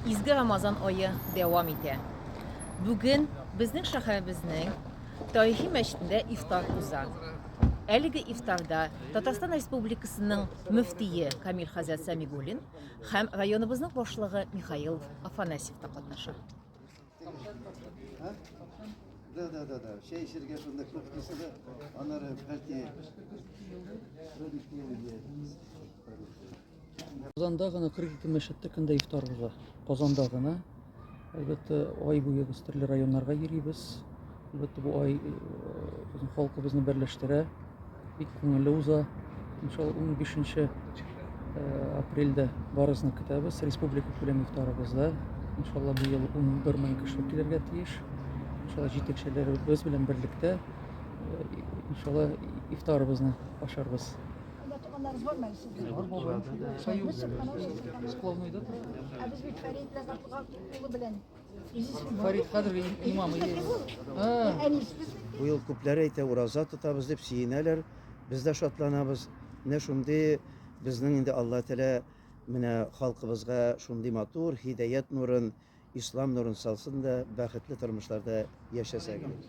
Изге Рамазан ае дәвам итә. Бүген безнең шәһәребезнең тарихи мәчетендә ифтар уза. Әлеге ифтарда Татарстан Республикасының мөфтие Камил хәзрәт Сәмигуллин һәм районыбызның башлыгы Михаил Афанасьев та катнаша. Да, да, да, да. Чәй эчәргә шунда күп кеше дә. Аннары бәлки Казанда гына 42 мәчеттә көндә ифтар уза. Казанда гына. Әлбәттә, ай буе без төрле районнарга йөрибез. Әлбәттә, бу ай э, безнең халкыбызны берләштерә. Бик күңелле уза. Иншалла 15 э, апрельдә барысына көтәбез. Республика күләм ифтарыбызда. Иншалла бу ел 11 мең кеше килергә тиеш. Иншалла җитәкчеләребез белән берлектә э, иншалла ифтарыбызны ашарбыз. Анда туганнарыз бар мәле сезнең? Бар, бар. Сәйүсез, каналда. Склонныйда тора. Ә без бит Фәрид Ләзатлыга улы белән. Фәрид хәзерге имам иде. Әнис без. Бу ел күпләр әйтә, ураза тотабыз дип сөенәләр. Без дә шатланабыз. Менә шундый безнең инде Алла Тәгалә менә халкыбызга шундый матур һидаят нурын, ислам нурын салсын да, бәхетле тормышларда яшәсәгез.